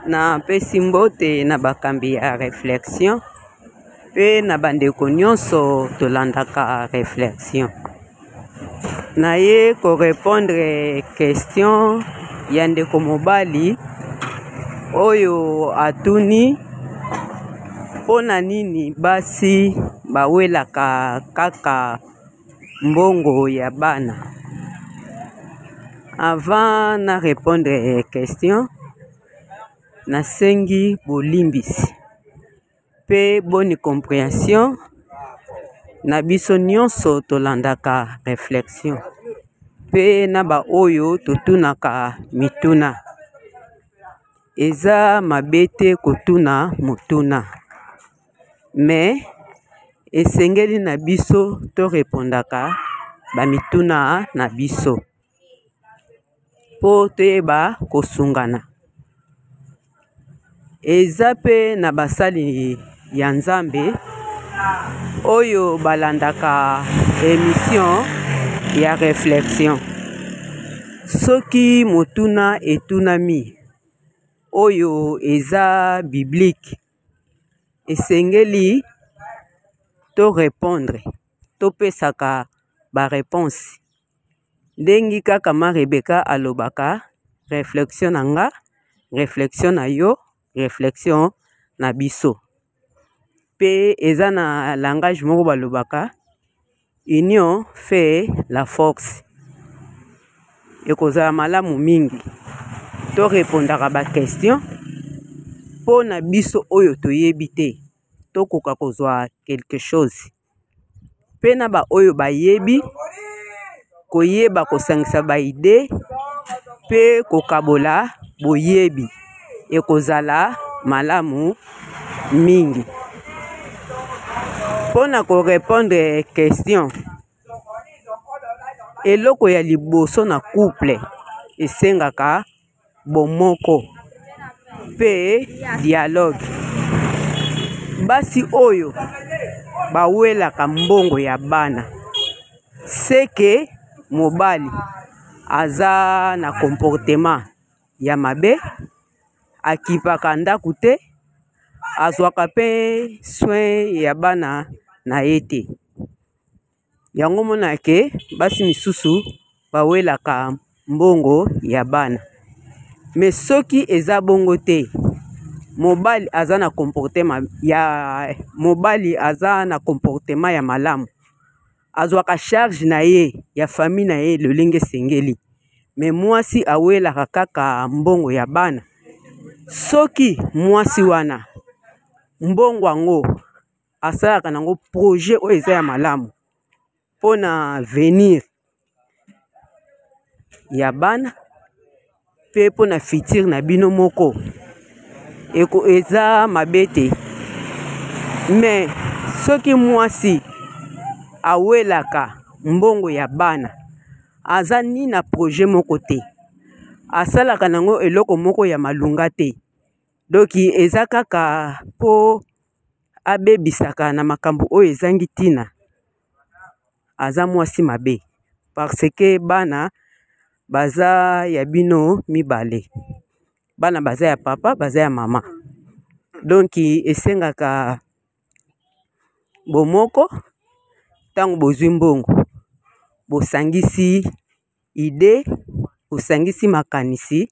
napesi mbote na bakambi ya reflexion mpe na bandeko nyonso tolandaka reflexion naye ko repondre question ya ndeko mobali oyo atuni mpo na nini basi bawelaka kaka mbongo ya bana avant na repondre question nasengi bolimbisi pe boni comprehension na biso nionso tolandaka reflexion pe na ba oyo totunaka mituna eza mabe te kotuna motuna mais esengeli na biso to repondaka ba mituna na biso po toyeba kosungana eza pe na basali ya nzambe oyo balandaka emission ya reflexion soki motuna etunami oyo eza biblique esengeli to repondre topesaka ba reponse ndengi kaka ma rebeka alobaka reflexion na nga reflexion na yo reflexion na biso pe eza na langage moko balobaka union fait la force ekozala malamu mingi to repondaka ba question mpo na biso oyo toyebi te tokoka kozwa quelque chose pe na ba oyo bayebi koyeba kosangisa ba idee pe kokabola boyebi ekozala malamu mingi pona ko repondre question eloko ya liboso na couple esengaka. bomoko mpe dialogue. Basi oyo bawelaka mbongo ya bana seke mobali aza na comportement ya mabe, akipaka ndako te, azwaka mpe soin ya bana na ye te. Yango omonaka ke basi misusu bawelaka mbongo ya bana. Me soki eza bongo te, mobali aza na comportema ya mobali aza na comportema ya malamu, azwaka charge na ye ya famille na ye lolenge esengeli. Me mwasi awelaka kaka mbongo ya bana. Soki mwasi wana mbongo yango. asalaka nango projet oyo eza ya malamu mpo na venir ya bana mpe mpo na futur na bino moko eko eza mabe te me soki mwasi awelaka mbongo ya bana aza ni na projet moko te asalaka nango eloko moko ya malunga te doki eza kaka mpo abebisaka na makambo oyo ezangi ntina aza mwasi mabe parce que bana baza ya bino mibale bana baza ya papa baza ya mama donki esengaka bomoko ntango bozwi mbongo bosangisi Idee, osangisi makanisi,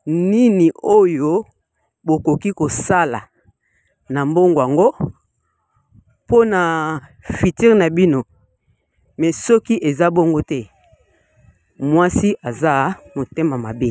Nini oyo bokoki kosala na mbongo yango mpo na futur na bino? Mais soki eza bongo te, mwasi aza motema mabe.